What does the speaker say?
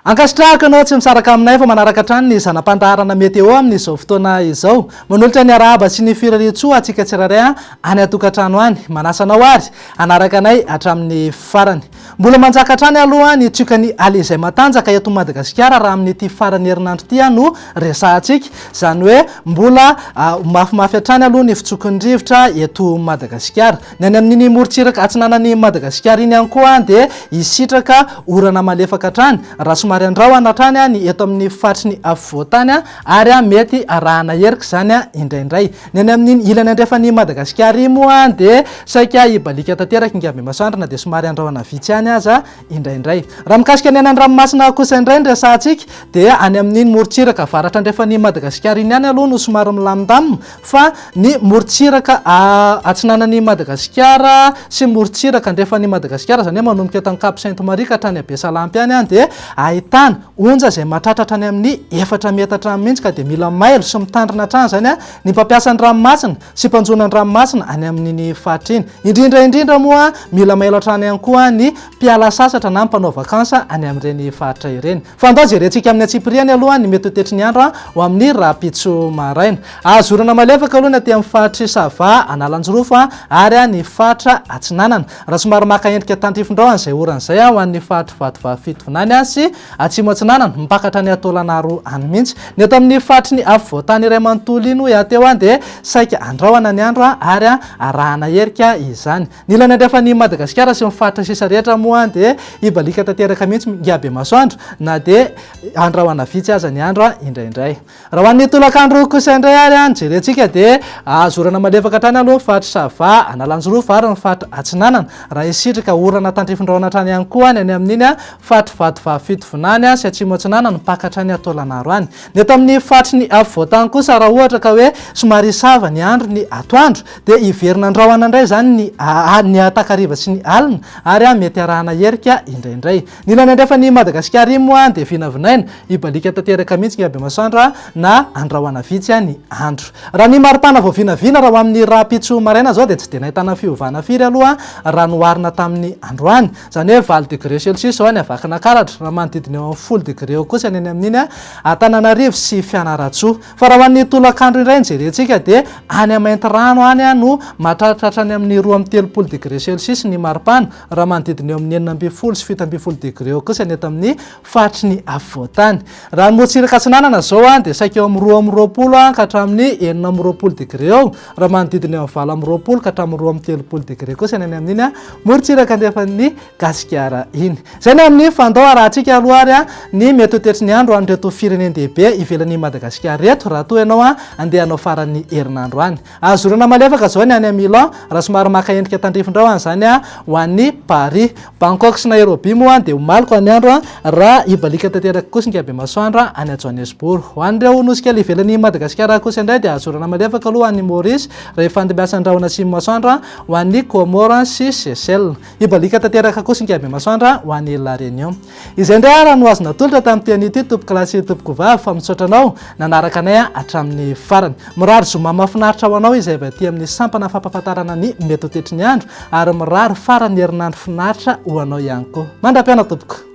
Ankasitrahako ianao tsy misaraka aminay fa manaraka hatrany ny zana-pandaharana météo amin'izao fotoana izao. Manolotra ny arahaba sy ny firarian-tsoa antsika tsirairay any an-tokantrano any. Manasa anao àry hanaraka anay hatramin'ny farany. Mbola manjaka hatrany aloha ny tsiokan'ny Ally izay matanjaka eto Madagasikara raha amin'ity faran'ny herinandro ity no resahantsika. Izany hoe mbola mafimafy hatrany aloha ny fitsokin'ny rivotra eto Madagasikara. Ny any amin'iny morontsiraka atsinanan'i Madagasikara iny ihany koa dia hisitraka orana malefaka hatrany raha somary andrahona hatrany ny eto amin'ny faritry ny afovoan-tany ary mety arahana erika izany indraindray. Ny any amin'iny ilany andrefan'i Madagasikara iny moa dia saika hibaliaka tanteraka i Ngambemasoandro na dia somary handrahona vitsy ihany aza indraindray. Raha mikasika ny any an-dranomasina kosa indray ny resahantsika dia any amin'iny morontsiraka avaratra andrefan'i Madagasikara iny ihany aloha no somary milamindamina fa ny morontsiraka atsinanan'i Madagasikara sy morontsiraka andrefan'i Madagasikara izany hoe manomboka eto Ankaposainty Maria ka hatrany Besalampy any dia ahitana onja izay mahatratra hatrany amin'ny efatra metatra hatrany mihitsy ka dia mila mailo sy mitandrina hatrany izany ny mpampiasa ny ranomasina sy mpanjono ny ranomasina any amin'iny faritra iny. Indrindra indrindra moa mila mailo hatrany ihany koa ny mpiala sasatra na ny mpanao vakansa any amin'ireny faritra ireny. Fa ndao jerentsika amin'ny antsipiriany aloha ny mety ho tetry ny andro ho amin'ny rahampitso maraina. Azo orana malefaka aloha ny aty amin'ny faritr'i Sava, Analanjirofo ary ny faritra Atsinanana. Raha somary maka endrika tandrifindrao an'izay orana izay ho an'ny faritry Vatovavy Fitovinany sy Atsimo Atsinanana, mipakatra any Taolagnaro any mihitsy. Ny eto amin'ny faritry ny afovoan-tany iray manontolo iny hoy aho teo dia saika andrahona ny andro ary arahana herika izany. Ny ilany andrefan'i Madagasikara sy ny faritra sisa rehetra moa dia hibaliaka tanteraka mihitsy mihinga bemasoandro na dia andrahona vitsy aza ny andro indraindray. Raha ho an'ny tolakandro kosa indray ary ny jerentsika dia azo orana malefaka hatrany aloha ny faritra Sava, Analanjirofo ary ny faritra Atsinanana raha hisitrika orana tandrifindraona hatrany ihany koa ny any amin'iny faritra Vatovavy-Fitovinany sy Atsimo Atsinanana mpaka hatrany Taolagnaro any. Ny eto amin'ny faritry ny afovoantany kosa raha ohatra ka hoe somary sava ny andro ny atoandro dia hiverina andrahona indray izany ny takariva sy ny alina ary mety arahana erika indraindray. Ny ilany andrefan'i Madagasikara iny moa dia vinavinaina hibaliaka tanteraka mihitsy ny habemasoandro na handrahona vitsy ny andro. Raha ny maripana vao vinavina raha ho amin'ny rahampitso maraina izao dia tsy dia nahitana fiovana firy aloha raha noharina tamin'ny androany. Izany hoe valo degré celsius izao any Vakinankaratra, raha manodidina eo amin'ny folo degré eo kosa ny eny amin'iny Antananarivo sy Fianarantsoa. Fa raha ho an'ny tolakandro indray no jerentsika dia any Maintirano any no mahatratra hatrany amin'ny roa amby telopolo degré celsius ny maripana, raha manodidina eo amin'ny enina ambin'ny folo sy fito ambin'ny folo degré eo kosa ny eto amin'ny faritry ny afovoantany. Raha ny morontsiraka atsinanana izao an, dia saika eo amin'ny roa amby roapolo an, ka hatramin'ny enina amby roapolo degré eo, raha manodidina eo amin'ny valo amby roapolo ka hatramin'ny roa amby telopolo degré kosa ny any amin'iny an, morontsiraka andefan'ny Gasikara iny. Izay ny amin'ny fandao arahantsika aloha ary an, ny mety ho toetry ny andro an'ireto firenen-dehibe ivelan'i Madagasikara ireto, raha toa ianao an, andeha hanao faran'ny herinandro any. Azo zorana malefaka izao ny any amin'ny Milan, raha somary maka endrika tandrifindrao any izany, ho an'i Paris. Bangkok sy Nairobi moa dia omaliko any andro, raha hibaliaka tanteraka kosa ny Kabemasoandro any Johannesburg. Ho an'ireo nosy kely ivelan'i Madagasikara kosa indray dia azo zorana malefaka aloha any Maurice, rehefa handeha miasa ny rahona atsimon'ny masoandro, ho an'i Comores sy Seychelles. Hibaliaka tanteraka kosa i Ngehibemasoandra ho any La Réunion. Izay indray ara no azo natolotra tamin'ity anio ity tompoko lahy sy tompoko vavy fa misaotra anao nanaraka anay hatramin'ny farany. Mirary zoma mahafinaritra ho anao izay avy aty amin'ny sampana fampahafantarana ny mety ho tetry ny andro ary mirary faran'ny herinandro finaritra ho anao ihany koa. Mandra-piaona tompoko.